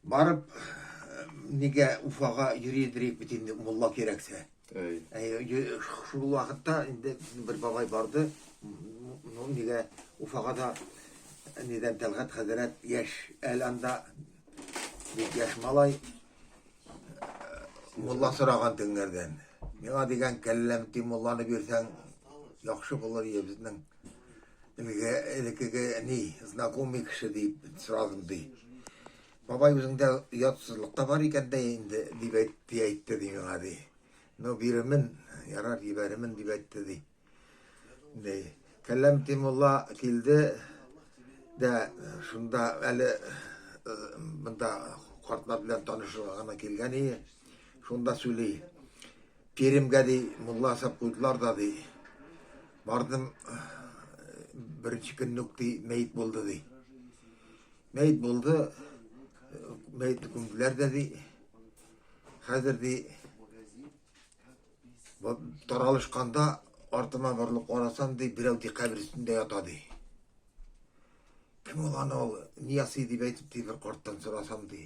Барып нигә Уфага йөри дирек бит инде мулла кирәксә. Әй. Шул вакытта инде бер бабай барды. Ну нигә Уфага да нидән Тәлгат хәзрәт яшь әле анда бик яшь малай мулла сораган теңнәрдән. Миңа дигән кәлләм ти мулланы бирсәң яхшы булыр иде безнең. Әлеге элекеге әни, знакомый кеше дип сорадым, ди. Бабай, үзеңдә оятсызлык та бар икән дә инде, дип әйтте, әйтте, ди миңа, ди. Ну, бирермен, ярар, җибәрермен, дип әйтте, ди. Ди. Кәләм Тимулла килде дә шунда әле э, монда картлар белән танышырга гына килгән иде. Шунда сөйли. Керимгә ди, мулла асап куйдылар да ди. Бардым, беренче көнне үк ди, мәет булды ди. Мәет булды, мәетне күмделәр дә ди. Хәзер ди, таралышканда артыма борылып карасам ди, берәү ди кабер өстендә ята ди. Кем ул ана ул? Нияси дип әйтеп ди, бер карттан сорасам ди.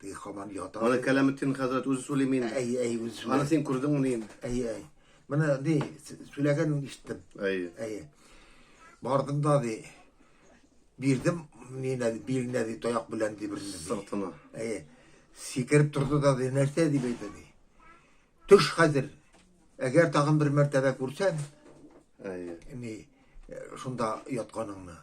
Теге хаман ята. Аны Кәләметдин хәзрәт үзе сөйлиме инде? Әй, әй, үзе сөйләгән. Аны син күрдеңме инде? Әй, әй. Менә ди, сөйләгәнен ишеттем. Әй. Әй. Бардым да ди. Бирдем, нина, биренә ди, таяк белән ди бер сүз. Сыртына. Әй. Сикереп торды да ди, нәрсә дип әйтә ди. Төш хәзер. Әгәр тагын бер мәртәбә күрсәң, Әйе. Ни, шунда ятканыңны.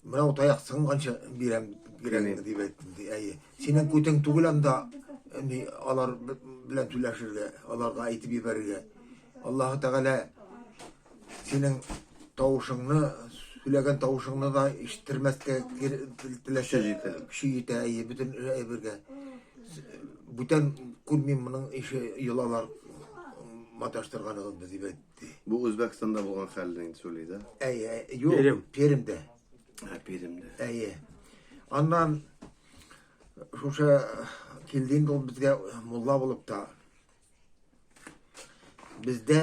Менә ул таяк сынганчы бирәм, бирәм дип әйттем. Әйе. Синең күтең түгел анда, ни, алар белән түләшергә, аларга әйтеп ибәрергә. Аллаһы Тәгалә Синең тавышыңны, сөйләгән тавышыңны да ишеттермәскә теләсә. Көче җитә. Көче җитә, әйе, бөтен әйбергә. Бүтән күрмим моның ише йолалар маташтырганыгыз без дип әйтте. Бу Үзбәкстанда булган хәлне инде сөйли дә. Әйе, юк. Перем. Перемдә. Ә, Перемдә. Әйе. Аннан шушы килде инде ул безгә мулла булып та. Бездә